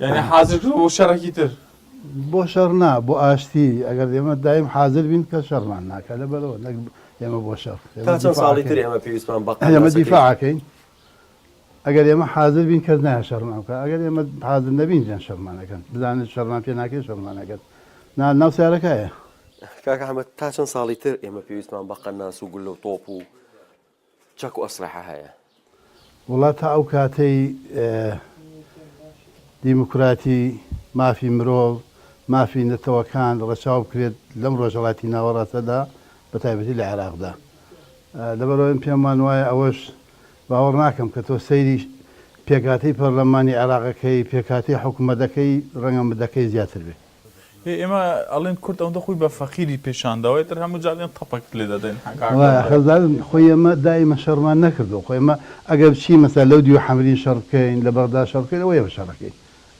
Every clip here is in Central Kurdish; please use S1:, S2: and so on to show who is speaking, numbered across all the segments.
S1: یعنی حازر بوو
S2: بۆ شەڕێکی تر بۆ شەڕ
S1: نا بۆ ئاشتی ئەگەر ئێمە دایم حازر بین کە شەڕمان ناکە لە بەرەوە نەک ئێمە بۆ شەڕ تا چەند ساڵی تر
S3: ئێمە پێویستمان بە ئێمە
S1: دیفاعەکەین ئەگەر ئێمە حازر بین کەس نایە شەڕمان بکە ئەگەر ئێمە حازر نەبین جان شەڕمانەکەن بزانن شەڕمان پێ ناکەی شەڕمانەکەن نا ناو سیارەکەیە کاکە حەمەد
S3: تا چەند ساڵی تر ئێمە پێویستمان بە قەناس و گوللە و تۆپ و چەک و ئەسلەحە هەیە. وەڵا
S1: تا ئەو کاتەی دیموکراتی، مافی مرۆڤ، مافی نەتەوەکان ڕەچاو بکرێت لەم ڕۆژهەڵاتی ناوەڕاستەدا بە تایبەتی لە عێراقدا. لەبەرئەوەی من پێم وان وایە ئەوەش باوەڕ ناکەم کە تۆ سەیری پێکهاتەی پەرلەمانی عێراق ئەکەی، پێکهاتەی حکومەت ئەکەی ڕەنگە مدەکەی زیاتر بێت. ئێ ئێمە
S2: ئەڵێن کورد ئەوەندە خۆی بە فەقیری پیشان داوە ئیتر هەموو جار دێن تەپەکت لێ دەدەین حەک ئاکام وڵا برا. حەزدارن
S1: خۆی ئێمە دایمە شەڕمان نەکردووە خۆ ئێمە ئەگەر بچین مەسەلا لەو دیوە حەمرین شەڕ بکەین لە بەغدا شەڕ بکەین ئەوە ئێمە شەڕەکەین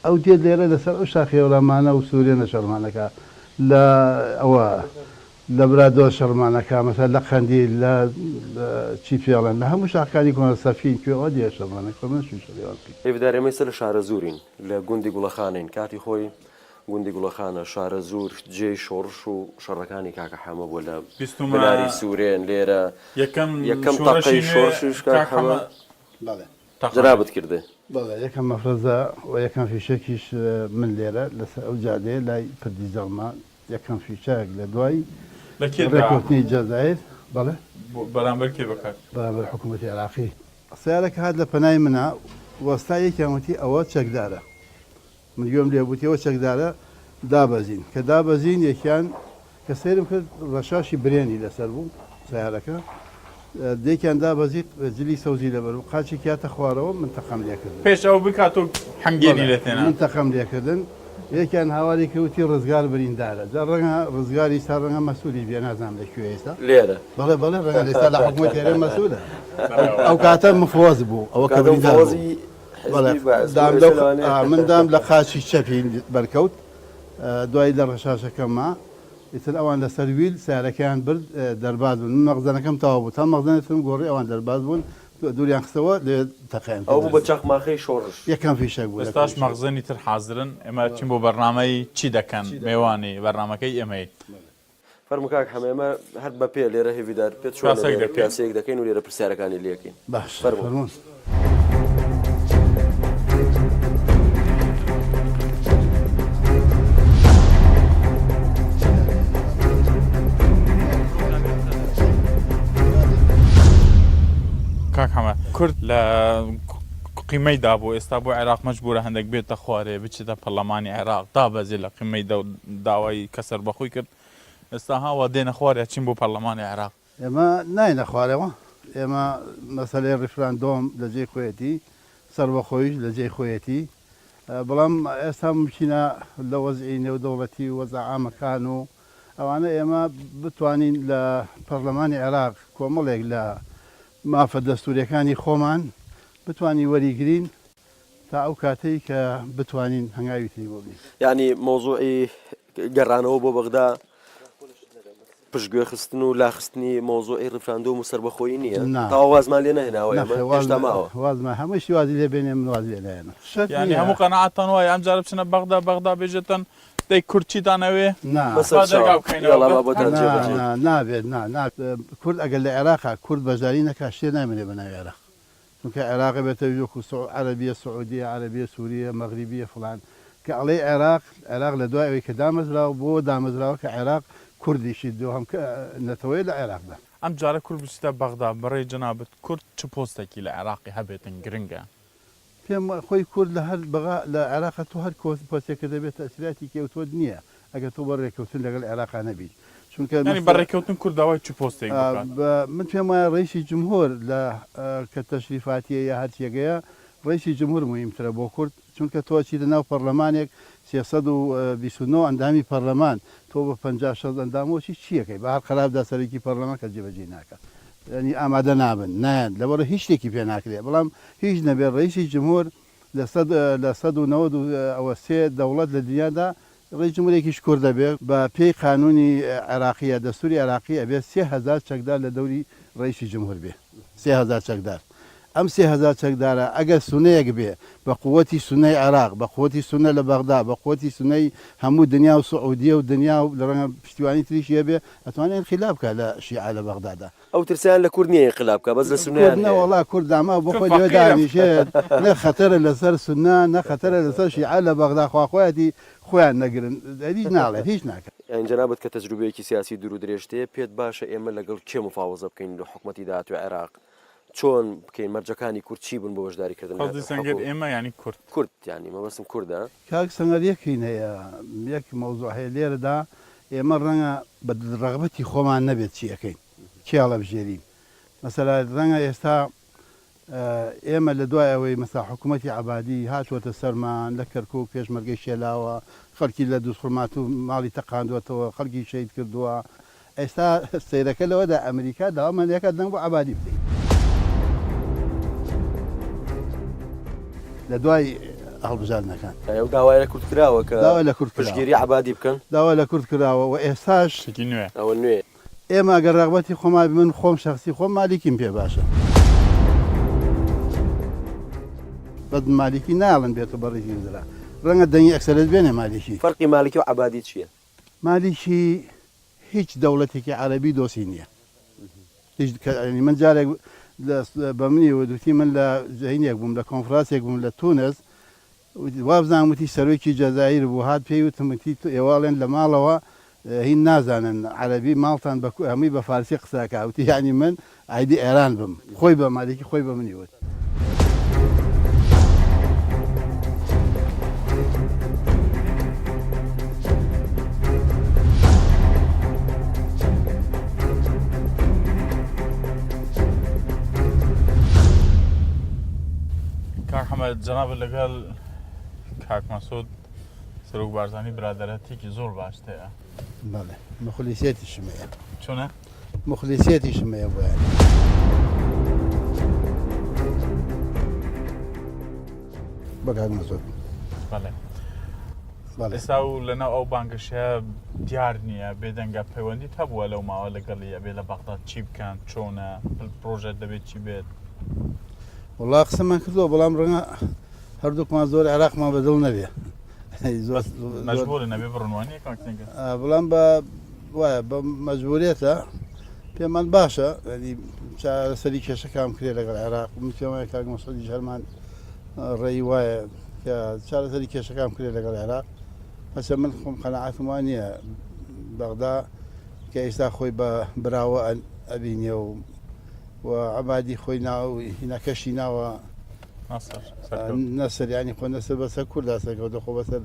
S1: ئەو دێت لێرە لەسەر ئەو شاخی هەورامانە و سورێنە شەڕمان ئەکا لە ئەوە لە برادۆست شەڕمان ئەکا مەسەلا لە قەندیل لە چی پێڵێن لە هەموو شاخەکانی کۆنە سەفین کوێ ئەوە دێ شەڕمان ئەکا خۆ ئێمە نەچووین شەڕی ئەوان بکەین. ئێ بدار ئێمەی سەر لە
S3: شارەزوورین لە گوندی گوڵەخانەین کاتی خۆی. گوندی گوڵەخانە، شارەزوور، جێی شۆڕش و شەڕەکانی کاکە حەمە بووە لە بناری سوورێن، لێرە یەکەم تەقەی شۆڕشیش کاک حەمە جەنابت کردێ. بەڵێ یەکەم مەفرەزە
S1: و یەکەم فیشەکیش من لێرە لەسەر ئەو جادەیە لای پردی جەڵمە یەکەم فیشەک لە دوای ڕێککەوتنی جەزایر بەڵێ بەرامبەر کێ
S2: بەکار بەرامبەر حکوومەتی
S1: عێراقی سەیارەکە هات لە پەنای منا وەستا یەکیان وتی ئەوە چەکدارە من گوێم لێ بوو تێوە چەکدارە دابەزین کە دابەزین یەکیان کە سەیرم کرد ڕەشاشی برێنی لەسەر بوو سیارەکە دێکیان دابەزیت جلی سەوزی لەبەر و قاچی کاتە خوارەوە من تەقام لێکردن پێش ئەو بکات و
S2: حەنگێنی لە تێنا من تەقام لێکردن
S1: یەکیان هاواری کەوتی ڕزگار بریندارە جا ڕەنگە ڕزگاری ستا ڕەنگە مەسوولی بێ نازانام لە کوێ ئێستا لێرە بەڵێ بەڵێ
S3: ڕەنگە ئێستا
S1: لە حکومەت تێرە مەسوولە ئەو کاتە مفۆز بوو ئەوە کە بریندار بوو. من دام لە قاچی چەپی بەرکەوت دوای لە ڕەشاشەکەمما ئیتر ئەوان لەسەر ویل سیارەکەیان برد دەرباز بوون من مەغزەنەکەم تەوا بوو تا مەغزەنێتم گۆڕی ئەوان دەرباز بوون دووریان خستەوە لێ تەقیان ئەو بە چەخماخەی
S3: شۆڕش یەکەم فیشەک بوو ئێستاش
S1: مەغزەنی تر
S2: حازرن ئێمە چین بۆ بەرنامەی چی دەکەن مێوانی بەرنامەکەی ئێمەین. فەرموو
S3: کاک حەمە ئێمە هەر بە پێ لێرە هێڤیدار پێت چۆنە کراسەک لێرە دەکەین. کراسەیەک دەکەین و لێرە پرسیارەکانی لێکەین باشە فەرموو. فەرموون.
S2: کاک حەمە کورد لە قیمەی دابوو ئێستا بۆ عێراق مەجبورە هەندەک بێتە خوارێ بچێتە پەرلەمانی عێراق دابەزێ لە قیمەی دە داوای کە سەربەخۆی کرد ئێستا ها وا دێنە خوارێ ئەچین بۆ پەرلەمانی عێراق. ئێمە ناینە
S1: خوارەوە ئێمە مەسەلەی ڕیفراندۆم لە جێی خۆیەتی سەربەخۆیش لە جێی خۆیەتی بەڵام ئێستا مومکینە لە وەزعی نێودەوڵەتی و وەزعە عامەکان و ئەوانە ئێمە بتوانین لە پەرلەمانی عێراق کۆمەڵێک لە مافە دەستووریەکانی خۆمان بتوانین وەریگرین. تا ئەو کاتەی کە بتوانین هەنگاوی تری بۆ بنێین. یانی مەوزوعی
S3: گەڕانەوە بۆ بەغدا پشتگوێخستن و لاخستنی مەوزوعی ڕیفراندۆم و سەربەخۆیی نییە؟ نا. تەواو وازمان لێ نەهێناوە ئێمە؟ نەخێر واز هێشتا ماوە. واز نە هەمووی شتی وازی
S1: لێ بێنێ من وازی لێ نایەنم شەرت یانی نییە. هەموو قەناعەتتان
S2: وایە ئەمجارە بچنە بەغدا بەغدا بێژێتن دەی کورد چیتان ئەوێ؟ نا. بەسەر با دەرگا چاو. بکەینەوە یاڵا با بۆتان
S1: بە نا جێبەجێ. نا نابێت نا نا کورد ئەگەر لە عێراقە کورد بەشداری نەکا شتێ نایمەنێ بە ناوی عێراق چونکە عێراق بێتە ویژ وەکو سع عەرەبیە سعودیە عەرەبیە سوریە مەغریبیە فڵان کە ئەڵێی عێراق عێراق لە دوای ئەوەی کە دامەزراوە بۆ دامەزراوە کە عێراق کوردیشی دووهەم کە نەتەوەیە لە عێراقدا. ئەم جارە کورد بچیتە
S2: بەغدا بەڕێی جەنابت کورد چ پۆستەکی لە عێراقی هەبێتن گرنگە؟ پێم
S1: خۆی کورد لە هەر بەغا لە عێراقە تۆ هەر کۆس پۆستێکە دەبێت تەئسیراتی کێوتووت نیە ئەگەر تۆ بۆ رێکەوتن لەگەڵ عێراقا نەبیت چونکە یانی بە رێکەوتن
S2: کورد داوای چ پۆستێک بکات؟ من پێم وایە رەیسی
S1: جمهور لە کە تەشریفاتیە یا هەرچیەگەیە رەیسی جمهور موهیمترە بۆ کورد چونکە تۆ ئەچیتە ناو پەڕلەمانێک سێ سەد و بیست و نۆ ئەندامی پەڕلەمان تۆ بە پەنجا شەست ئەندامەوە چی چیەکەی بە هەر قەراردا سەرەکی پەڕلەمان کەس جێبەجێی ناکات یانی ئامادە نابن نایەن لەبەڕەی هیچ شتێکی پێ ناکرێت بەڵام هیچ نەبێت رەیسی جمهور لە سەد لە سەد و نەوەد و ئەوە سێ دەوڵەت لە دنیادا ڕێی جمهورێکیش کورد ئەبێ بە پێی قانونی عێراقیە دەستوری عێراقی ئەبێ سێ هەزار چەکدار لە دەوری ڕەیسی جمهور بێ سێ هەزار چەکدار ئەم سێ هەزار چەکدارە ئەگەر سونەیەک بێ بە قوەتی سونەی عێراق بە قوەتی سونە لە بەغدا بە قوەتی سونەی هەموو دنیا و سعودیە و دنیا و لە ڕەنگە پشتیوانی تریشی هەبێ ئەتوانێ ئینقیلاب کا لە شیعە لە بەغدادا ئەو ترسەیان لە کورد
S3: نیە ئینقلاب بکا بەس لە سونەیان هەیە. نەوەڵا کورد داماو
S1: بۆ خۆی لەوێ دانیشێت نە خەتەرە لەسەر سونە نە خەتەرە لەسەر شیعە لە بەغدا خوا خۆیەتی خۆیان نەگرن هیچ ناڵێت هیچ ناکات. یانی جەنابت کە تەجروبەیەکی
S3: سیاسی دورو درێژت هەیە پێت باشە ئێمە لەگەڵ کێ مفاوەزە بکەین لۆ حکومەتی داهاتوی عێراق چۆن بکەین مەرجەکانی کورد چی بون بۆ بەشداری کردن لە حکومەت؟ کاک سەنگەر ئێمە یانی
S2: کورد. کورد یانی
S3: مەبەستم کوردە. کاک سەنگەر یەک
S1: هین هەیە یەک مەوزوع هەیە لێرەدا ئێمە ڕەنگە بە ڕەغبەتی خۆمان نەبێت چی ئەکەین چی هەڵەبژێرین مەسەلا ڕەنگە ئێستا ئێمە لە دوای ئەوەی مەسا حکوومەتی عبادی هاتووەتە سەرمان لە کەرکک پێشمەرگەی شێلاوە خەڵکی لە دووسڕمات و ماڵی تەقاندوەتەوە خەڵکی شەید کردووە ئێستا سیرەکە لەوەدا ئەمریکا داوامەندەکە دەنگ بۆ عبادی بدەین لە دوای هەڵبژاردنەکان. یانی ئەو داوای لە کورد
S3: کراوە کە داوای لە کورد کراوە. پشتگیری
S1: عەبادی بکەن؟
S3: داوای لە کورد کراوە
S1: و ئێستاش. شتێکی نوێ. ئەوە
S2: نوێیە.
S3: ئێمە ئەگەر ڕەغبەتی
S1: خۆمان بێ، من خۆم شەخسی خۆم مالیکیم پێ باشە. بەس مالیکی نایەڵن بێتە بەڕیزی وزرا. ڕەنگە دەنگی ئەکسەریەت بێنێ مالیکی. فەرقی مالیکی و عەبادی
S3: چییە؟ مالیکی
S1: هیچ دەوڵەتێکی عەرەبی دۆستی نیە هیچ کە ینی من جارێک بە منی وت وتی من لە زەینێک بووم لە کۆنفراسێک بووم لە تونس وابزان وتی سەرۆکی جەزایر بوو هات پێی وتمتی تو ئێواڵێن لە ماڵەوە هین نازانن عەرەبی ماڵتان بە هەمووی بە فارسی قسەکە وتی یعنی من ئایدی ئێران بم خۆی بە مالیکی خۆی بە منی وت.
S2: کاک حەمەد جەنابت لەگەڵ کاک مەسود سەرۆک بارزانی برادەرەتێکی زۆر باشتەیە بەڵێ
S1: مەخلیسێتیشمەیە چۆنە؟
S2: موخلیسیەتیشم
S1: هەیە بۆیان. بەکات مەزۆر ئێستا
S2: و لەناو ئەو بانگەشە دیار نییە بێدەنگە پەیوەندیت هەبووە لەو ماوە لەگەڵی ئەبێ لە بەغداد چی بکەن چۆنە پرۆژەت دەبێت چی بێت
S1: وڵا قسەمان کردووە بەڵام ڕەنگە هەردووکمان زۆر عێراقمان بەدڵ نەبێ زۆر
S2: نەبێ بڕوانێ بەڵام بە
S1: وایە بە مەجبوریەتە پێمان باشە ینی چارەسەری کێشەکان بکرێت لەگەڵ عێراق من پێم وایە کاک مەسعودی هەرمان ڕێی وایە کە چارەسەری کێشەکان بکرێت لەگەڵ عێراق هەچە من خۆم قەنەعاتم وان نییە بەغدا کە ئێستا خۆی بە براوە ئەبینێ و و عبادی خۆی ناو هینەکەشی ناوە ناصر سەرکەوت. نەسەر ینی خۆ نەسەر بەسەر کوردا سەرکەوتە خۆ بەسەر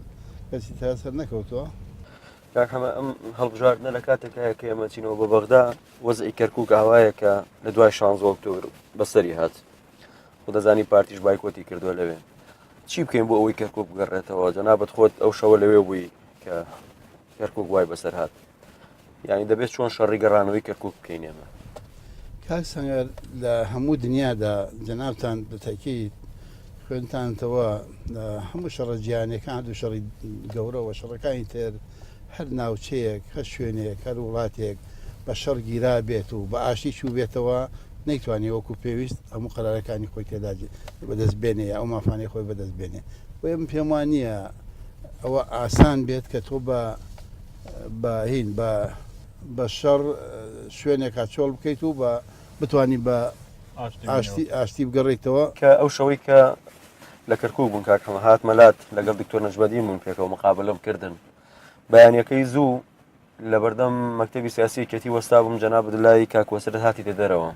S1: کەسی تا سەر نەکەوتووە کاک حەمە
S3: ئەم هەڵبژاردنە لە کاتێک هەیە کە ئێمە چینەوە بە بەغدا وەزعی کەرکک ئاوایە کە لە دوای شانزۆ ئۆکتۆبر بەسەری هات و دەزانی پارتیش بایکۆتی کردووە لەوێ چی بکەین بۆ ئەوەی کەرکک بگەڕێتەوە جەنابەت خۆت ئەو شەوە لەوێ بووی کە کەرکک وای بەسەر هات یعنی دەبێت چۆن شەڕی گەڕانەوەی کەرکک بکەین ئێمە کاک
S1: سەنگەر لە هەموو دنیادا جەنابتان بە تەکید خوێنتانتەوە لە هەموو شەڕە جیانەکان دوو شەڕی گەورەوە شەڕەکانی تر هەر ناوچەیەک هەر شوێنێک هەر وڵاتێک بە شەڕ گیرا بێت و بە ئاشتی چوو بێتەوە نەیتوانێت وەکو پێویست هەموو قەرارەکانی خۆی تێدا بەدەست بێنێ ئەو مافانەی خۆی بەدەست بێنێ بۆیە من پێم وان نییە ئەوە ئاسان بێت کە تۆ بە باهین بە بە شەڕ شوێنێکا چۆڵ بکەیت و بە بتانی بە ئاشتی ئاشتی بگەڕیتەوە. کە ئەو شەوەی کە
S3: لە کەرکوک بوون کاک حەمە هاتمە لات لەگەڵ دکتۆر نەجمەدین بووین پێکەوە مقابلەم کردن بەیانەکەی زوو لەبەردەم مەکتەبی سیاسی کەتی وەستا بووم جەناب دلای کاکوەسرت هاتی دە دەرەوە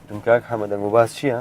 S3: دم کاک حەمە دەنگ و باس چییە؟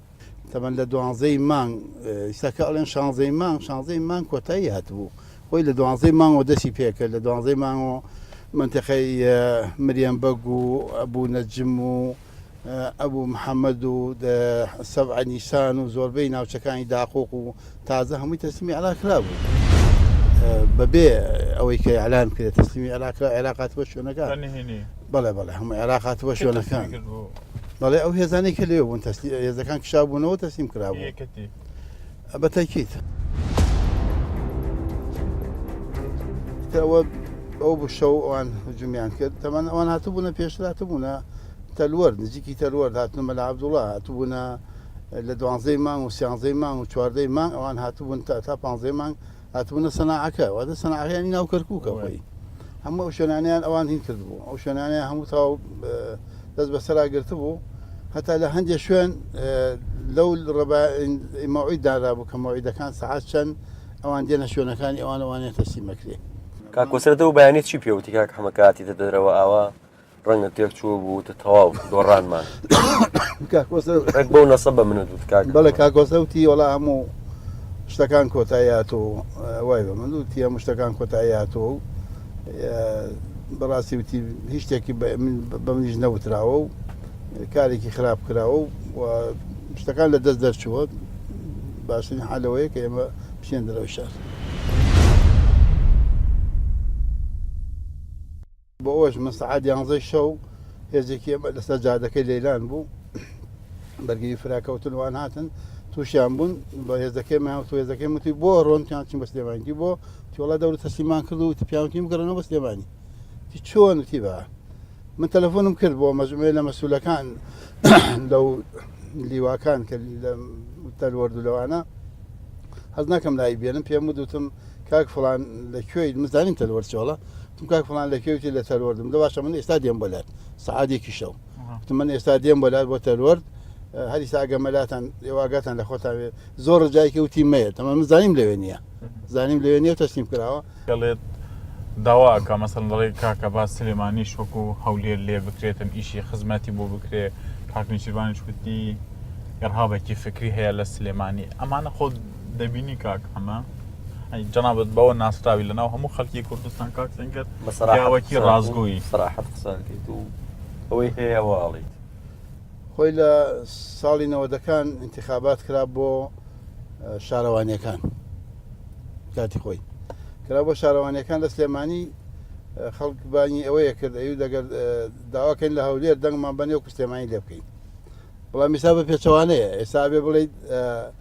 S1: تەمەن لە دوانزەی مانگ ئیستاکە ئەڵێن شانزەی مانگ شانزەی مانگ کۆتایی هاتبوو خۆی لە دوانزەی مانگەوە دەستی پێکرد لە دوانزەی مانگەوە منتەقەی مریەم بەگ و ئەبوو نەجم و ئەبوو محەممەد و سەبعە نیسان و زۆربەی ناوچەکانی داقۆق و تازە هەمووی تەسلیمی عێراق کرابوو بەبێ ئەوەی کە ئەلان کرێت تەسلیمی عێراقە عێراقاتوە شوێنەکان بەڵێ بەڵێ هەموو عێراقاتوە شوێنەکان بەڵێ ئەو هێزانەی کە لێ بوون تەسلی هێزەکان کشا بوونەوە تەسلیم کرابوو بە تەکیت ئەوە ئەو بشە و ئەوان هجومیان کرد تەمان ئەوان هاتبوونە پێشراتبوونە تەلوەر نزیکی تەلوەر هاتنە مەلا عبدوڵە هاتبوونە لە دوانزەی مانگ و سیانزەی مانگ و چواردەی مانگ ئەوان هاتبوون تا تا پانزەی مانگ هاتبوونە سەناعەکە وادە سەناعەکەیانی ناو کەرکووکە خۆی هەموو ئەو شوێنانیان ئەوان هین کردبوو ئەو شوێنانە هەموو تاو دەست بەسەرا گرتبوو هەتا لە هەندێک شوێن لەو ڕبمەوەی دارابوو کە مەوەیدەکان سعات چەند ئەوان دێنە شوێنەکانی ئەوانەوانێت تەسیمەکرێ کاکۆسرەتەوە
S3: بەیانێت چی پێوتی کاک حمە کاتی دەدەرەوە ئاوا ڕەنگە تێک چوو بوو تە تەواو دۆڕانمان بۆ نەسە بە منە دووت کاک بەڵێ کاکۆسەوتی وەڵا
S1: هەموو شتەکان کۆتاییات و وای بە من دووتی هەموو شتەکان کۆتاییات و بەڕاستی وتی هیچ شتێکی بە منیش نەوتراوە و کارێکی خراپ کراوە و شتەکان لە دەست دەرچووە باشترین حالەوەیە کە ئێمە بچێن دەرەوە شار. بۆ ئەوەش من سەعات یانزەی شەو هێزێکی ئێمە لەسەر جادەکەی لەیلان بوو بەرگری فراکەوتن وان هاتن تووشیان بوون بە هێزەکەیمان و هێزەکەی وتی بۆ ڕۆنتیان چین بە سلێمانگی بۆ تیۆڵا دەور تەسلیمان کرد و پیاوتیم گەڕنەوە بە سلێمانی تی چۆن وتی بە من تەلەفۆنم کرد بۆ مەزمێ لە مەسوولەکان لەو لیواکان کە تەلوەرد لەوانە حەز ناکەم لای بێنم پێم ودوتم کاک فڵان لە کوێی مزانیم تەلوەر چۆڵە تم کاک فڵان لە کوێتی لە تەلوەردم لە باشە من ئێستا دێم بۆ لات سعادێکی شەو تم من ئێستا دێم بۆ لات بۆ تەلوەرد هەری ساگە مەلاتان ئێواگاتان لە خۆتان زۆر ڕجایکە وتی مەیە تەمە من زانیم لەوێ نییە زانیم لەوێ نیە تەسلیم کراوە دەڵێت
S2: داواکە مەسەن دەڵێ کاکە با سلێمانی شوکو هەولێر لێ بکرێتن ئیشی خزمەتی بۆ بکرێ کاکنیشیروانی شکوتی گەڕهابێکی فکری هەیە لە سلێمانی ئەمانە خۆ دەبینی کاک ئەمە جنابەت بەوە ناسراوی لەناو هەموو خەڵکی کوردستان کاک سنگەر بەسەراوەکی ڕازگۆی سراحەت
S3: قسانکەیت و ئەوەی هەیە واڵیت خۆی
S1: لە ساڵی نەوەدەکان انتخابات کرا بۆ شارەوانیەکان کاتی خۆی کرا بۆ شارەوانیەکان لە سلێمانی خەڵک بانی ئەوەیە کرد ئەو دەگەر داواکەین لە هەولێر دەنگمان بەنێو کوسلێمانی لێ بکەین بەڵام میسا بە پێچەوانەیە ئێستا بێ بڵیت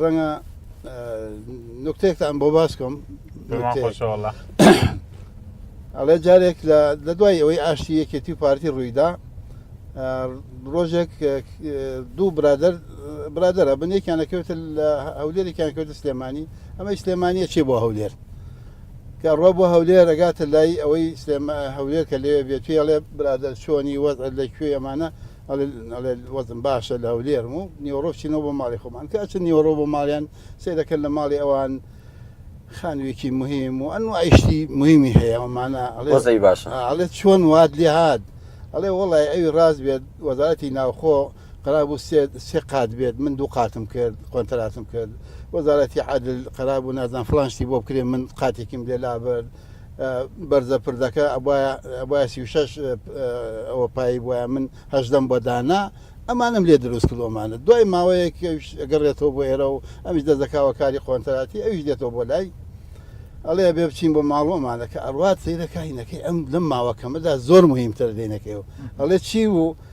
S1: ڕەنگە نکتێکتان بۆ باسکەم ئەڵێ جارێک لە دوای ئەوەی ئاشتی یەکێتی و پارتی ڕوویدا ڕۆژێک دوو برادر برادرە بنێکیان نەکەوێت لە هەولێرێکیان کەوتە سلێمانی ئەمە سلێمانیە چێ بۆ هەولێر کە ڕۆ بۆ هەولێر ڕگاتە لای ئەوەی سلێمە هەولێر کە لێ بێتێڵێ برادر چۆنی وەز لە کوێ ئەمانە ئەڵێ ئەڵێ وەزم باشە لە هەولێرم و نیوەڕۆ چینەوە بۆ ماڵی خۆمان کە ئەچن نیوەڕۆ بۆ ماڵیان سەیرەکەن لە ماڵی ئەوان خانوێکی مهم و ئەن ئایشتی مهمی هەیە ئەمانە ئەڵێ باشە
S3: ئەڵێ چۆن وات
S1: لێ هاات ئەڵێ وڵی ئەوی ڕاز بێت وەزارەتی ناوخۆ قرابوو سێ قات بێت من دوو قاتم کرد قۆنتەراتم کرد وەزارەتی عادل قرابوو نازان فلانشتی بۆ بکرێ من قاتێکیم لێ لابرد بەرزە پردەکە ئەبوایە ئەبوایە سی و شەش ئەوە پایی بوایە من هەژدەم بۆ دانا ئەمانم لێ دروست کرد ئەمانە دوای ماوەیەک ئەویش ئەگەڕێتەوە بۆ ئێرە و ئەمیش دەست دەکاوە کاری قۆنتراتی ئەویش دێتەوە بۆ لای ئەڵێ بێ بچین بۆ ماڵ و ئەمانە کە ئەڕوات سەیرە کاینەکەی ئەم لەم ماوە کەمەدا زۆر مهمترە دێنەکەی و ئەڵێ چی بوو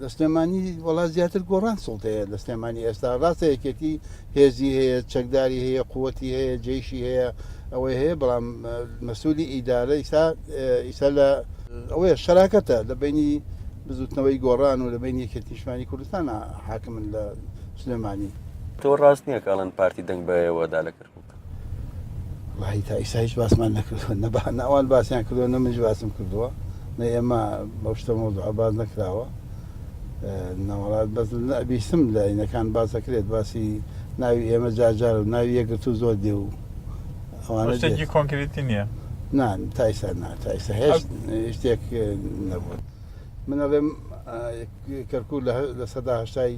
S2: لە
S1: سلێمانی وڵات زیاتر گۆڕان سڵتەیە لە سلێمانی ئێستا ڕاستە یەکێتی هێزی هەیە چەکداری هەیە قوتی هەیە جێشی هەیە ئەوەی هەیە بەڵام مەسوولی ئیدارە ئیسا ئیسا لە ئەوەیە شەراکەتە لە بینی بزوتنەوەی گۆڕان و لە بین یەکێتیشمانی کوردستان حاکمن لە سلێمانی تۆ ڕاست
S3: نییە کاڵن پارتی دەنگ بەەوەدا لە کرد
S1: وەحی تا ئیستا هیچ باسمان نەکردوە نە بە نە ئەوان باسیان کردوە نە منیش باسم کردوە نە ئێمە بەو شتە مەوزوعە باس نەکراوە نەوەڵات بەس بیستم لە ئینەکان باس دەکرێت باسی ناوی ئێمە جار جار و ناوی یەکگرتوو زۆر دێ و ئەوانە دێت. شتێکی
S2: کۆنکریتی نییە نا تا ئیستا
S1: نا تا ئیستا هێشت شتێک نەبوو من ئەڵێم کەرکوو لە سەدا هەشتای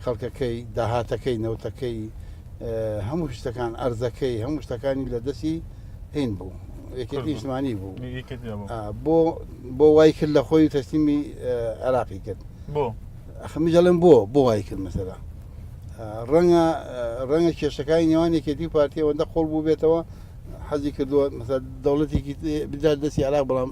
S1: خەڵکەکەی داهاتەکەی نەوتەکەی هەموو شتەکان ئەرزەکەی هەموو شتەکانی لە دەستی هین بوو یەکێتی نیشتمانی بوو بۆ بۆ وای کرد لە خۆی تەسلیمی عراقی کرد بۆ ئەخمی دەڵێن بۆ بۆ وای کرد مەسەرە ڕەنگە ڕەنگە کێشەکانی نێوان یەکێتی و پارتی ئەوەندە قۆڵ بوو بێتەوە حەزی کردووە مەسەر دەوڵەتێکی بدات دەستی عراق بەڵام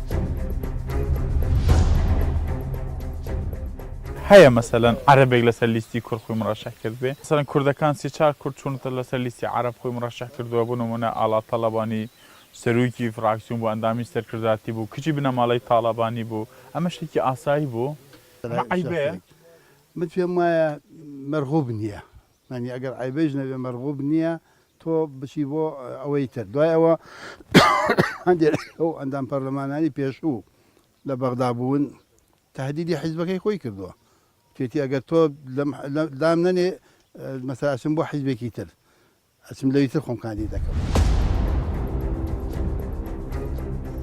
S2: هەیە مەسەلەن عەرەبێک لەسەر لیستی کورد خۆی مڕەشەح کردبێ مەسەلەن کوردەکان سێ چار کورد چوونەتە لەسەر لیستی عەرەب خۆی مڕەشەح کردووە بۆ نموونە ئاڵا تەڵەبانی سەرۆکی فڕاکسیۆن بوو ئەندامی سەرکردایەتی بوو کچی بنەماڵەی تاڵەبانی بوو ئەمە شتێکی ئاسایی بوو ئەمە عەیبەیە؟ من
S1: پێم وایە مەرغوب نییە یانی ئەگەر عەیبەیش نەبێ مەرغوب نییە تۆ بچی بۆ ئەوەی تر. دوای ئەوە هەندێک لەو ئەندام پەرلەمانانی پێشوو لە بەغدا بوون تەهدیدی حیزبەکەی خۆی کردووە وتێتی ئەگەر تۆ دام نەنێ مەسەلا ئەچم بۆ حیزبێکی تر ئەچم لەوی تر خۆم کاندید دەکەم.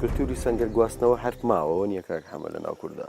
S3: کلتوری سەنگەر گواستنەوە هەر ماوەوە نییە کاک حەمە لە ناو کوردا.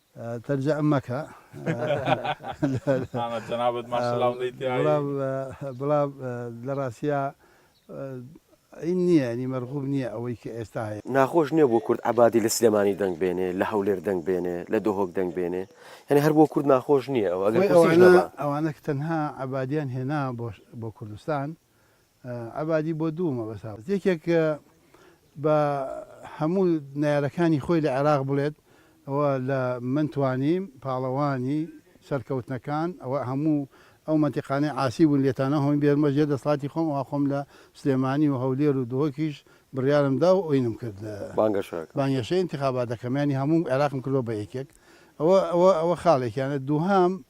S2: تەرجە م
S1: مەکە مامە
S2: جەنابت ماشەڵا ئەڵێی تیایی. بڵام
S1: بڵام لە ڕاستیا عین نییە یانی مەرغوب نییە ئەوەی کە ئێستا هەیە. ناخۆش نیە بۆ کورد
S3: عەبادی لە سلێمانی دەنگ بێنێ لە هەولێر دەنگ بێنێ لە دهۆک دەنگ بێنێ یانی هەر بۆ کورد ناخۆش نیە ئەوە ئەگەر کورسیش نەبا. ئەوانە ئەوانە
S1: کە تەنها عەبادیان هێنا بۆ بۆ کوردستان عەبادی بۆ دوو مەبەست هاوردە، یەکێک بە هەموو نەیارەکانی خۆی لە عێراق بڵێت ئەوە لە من توانیم پاڵەوانی سەرکەوتنەکان ئەوە هەموو ئەو مەنتیقانەی عاسی بوون لێتانە هۆم بێنمە ژێر دەسڵاتی خۆم ئەوا خۆم لە سلێمانی و هەولێر و دهۆکیش بڕیارم دا و ئۆینم کرد لە بانگەشەی ئینتخابات دەکەم یانی هەموو عێراقم کردووە بە یەکێک ئەوە ئەوە ئەوە خاڵێکیانە دووهەم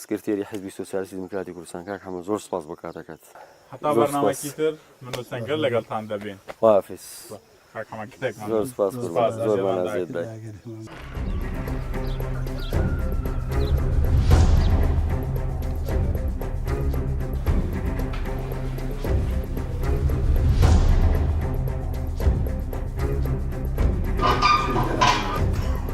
S3: سکرتێری حیزبی سۆسیالیستی دیموکراتی کوردستان کاک حەمە زۆر سوپاس بۆ کاتەکەت. هەتا بەرنامەکی
S2: تر من و سەنگەر لەگەڵتان دەبین. خوافیز کاک
S3: حەمە کتێکمان نووس. زۆر
S2: سوپاس
S3: قوربان زۆرمان ئەزێت دای.